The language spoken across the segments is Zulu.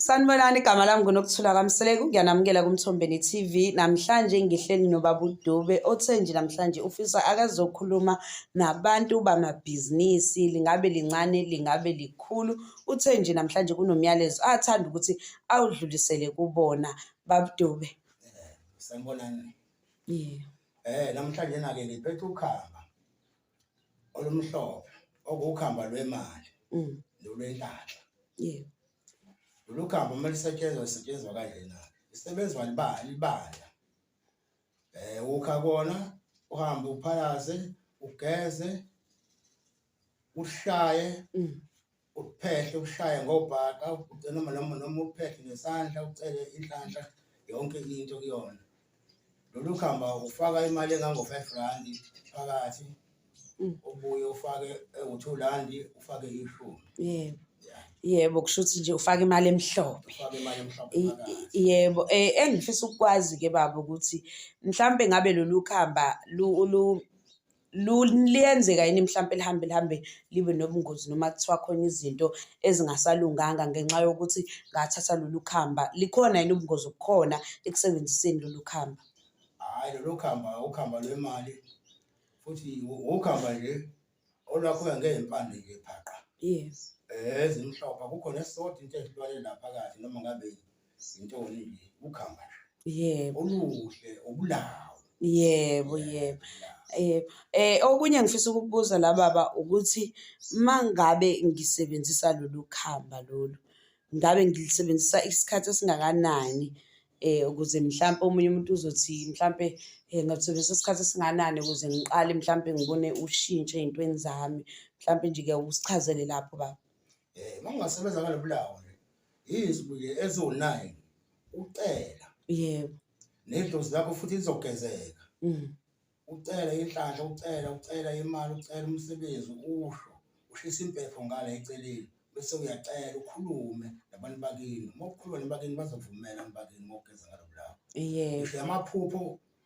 Sanibonani igama lami nguNokuthula kaMseleku ngiyanamukela kuMthombeni TV namhlanje ngihleli noBaba uDube othe nje namhlanje ufisa akazokhuluma nabantu bamabhizinisi lingabe lincane lingabe likhulu uthe nje namhlanje kunomyalezo athanda ukuthi awudlulisele kubona Baba uDube eh, Sanibonani Yeah Eh namhlanje nake ngiphethe ukhamba olumhlophe okukhamba lwemali mm. nolwenhlanhla Yeah Lolu khambo uma lisetshenzwa lisetshenzwa kanjena isebenzwa libala libala eh ukha kona uhambe uphalaze ugeze ushaye mm. uphehle ushaye ngobhaka ugcina noma noma uphehle ngesandla ucele inhlanhla yonke into kuyona lolu khamba ufaka imali engango-five randi phakathi mm. ubuye ufake ewu-two randi ufake ishumi yebo yebo kusho ukuthi nje ufake imali emhlophe yebo um engifisa ukukwazi-ke baba ukuthi mhlawumpe ngabe lolu khamba liyenzeka yini mhlawumpe lihambe lihambe libe nobungozi noma kuthiwa khona izinto ezingasalunganga ngenxa yokuthi ngathatha lolu khamba likhona yini ubungozi obukhona ekusebenziseni lolu khamba hhayi lolu khamba ukhamba lwemali futhi ukhamba nje olwakhula ngey'mpande nje phaqa yes ezimhlophe akukho nesisodwa into ezilwane la phakathi noma ngabe Zintoni nje ukhamba nje. Yebo. Oluhle obulawo. Yebo yebo. Eh eh okunye ngifisa ukubuza la baba ukuthi mangabe ngisebenzisa lolu khamba lolu ngabe ngilisebenzisa isikhathi esingakanani eh ukuze mhlampe omunye umuntu uzothi mhlampe eh, ngathokoza isikhathi esinganani ukuze ngiqale mhlampe ngibone ushintsho ezintweni zami mhlampe nje ke usichazele lapho baba. Eh makungasebenza ngale bulawo nje. Izwi ke ezo9 ucela. Yebo. Nedlozi lakho futhi lizogezeka. Mhm. Ucela inhlanhla, ucela, ucela imali, ucela umsebenzi, usho. Ushisa impepho ngale eceleni bese uyacela ukhulume nabantu bakini. Uma ukhuluma nabakini bazovumela abantu bakini ngokugeza ngalo bulawo. Yebo. Ngisho amaphupho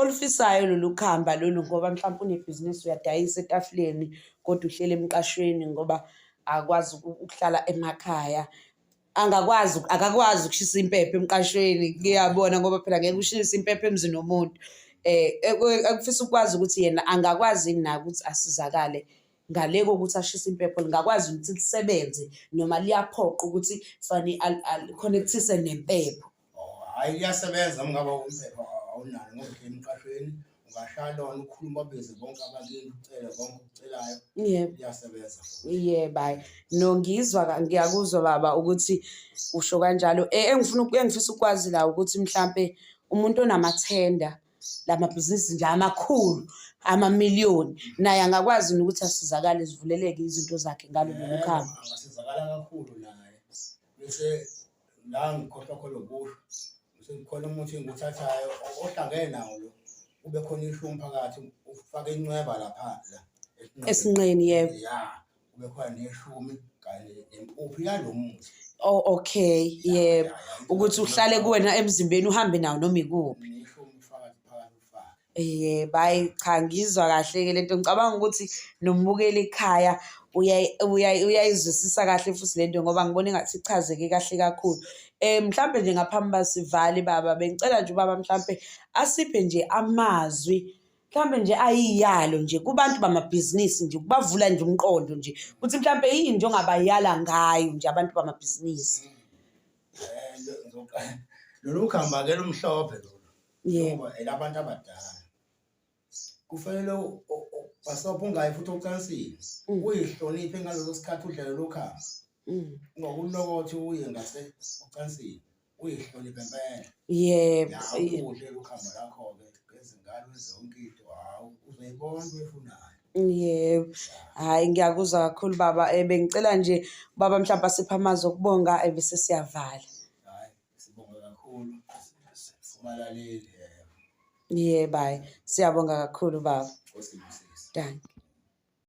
olufisayo lolu khamba lolu ngoba mhlawumpe unebhizinisi uyadayisa etafuleni kodwa uhlele emqashweni ngoba akwazi ukuhlala emakhaya angakwazi akakwazi ukushisa impepho emqashweni ngiyabona ngoba phela ngeke ushise impepho emzini womuntu eh ekufisa ukwazi ukuthi yena angakwazi na ukuthi asizakale ngale kokuthi ashise impepho lingakwazi ukuthi lisebenze noma liyaphoqa ukuthi fani ali-connectise nempepho hayi iyasebenza mngaba umphepha awunalo ngoba emqashweni ungashalona ukhuluma bize bonke abantu ucele konke ukucelayo yebo iyasebenza yebo hayi no ngizwa ngiyakuzwa baba ukuthi usho kanjalo e, engifuna engifisa ukwazi la ukuthi mhlambe umuntu onamathenda lamabhizinisi nje amakhulu amamiliyoni naye angakwazi ukuthi asizakale zivuleleke izinto zakhe ngalolu khamba angasizakala kakhulu naye bese la ngikhohlwa khona ukusho sekukhona umuthi engiwuthathayo ohlangene nawo lo kube khona ishu umphakathi ufake incweba lapha la esinqeni yebo ya kube khona neshumi kanye nempuphu yalo muthi oh okay yebo ukuthi uhlale kuwena emzimbeni uhambe nawo noma ikuphi neshumi ufakazi phakathi ufake Yebo, hhayi cha ngiyizwa kahle-ke le nto. Ngicabanga ukuthi nombukeli ekhaya uyayizwisisa kahle futhi le nto ngoba ngibona engathi ichazeke kahle kakhulu. Um mhlampe nje ngaphambi uba sivale baba bengicela nje ubaba mhlampe asiphe nje amazwi mhlawumbe nje ayiyalo nje kubantu bamabhizinisi nje ukubavula nje umqondo nje ukuthi mhlawumbe yini nje ongabayala ngayo nje abantu bamabhizinisi eh, lolu khamba-ke lumhlophe lolu yebo elabantu abadala kufanele bhasobha ungayi futhi ocansini mm. uyihloniphe ngaleso sikhathi udlale lokhamba mm. ngokulokothi uye ngase ocansini uyihloniphe impela yebo udle lokhamba lakho-ke ngezingane zonke into hawu uzoyibona uyifunayo Yebo. Hhayi ngiyakuzwa kakhulu baba. Eh, bengicela nje ubaba mhlampe asiphe amazwi okubonga ebese eh, siyavala. Sibonga kakhulu. Ubalaleli. Yeah, bye. Siyabonga kakhulu baba. Dankie.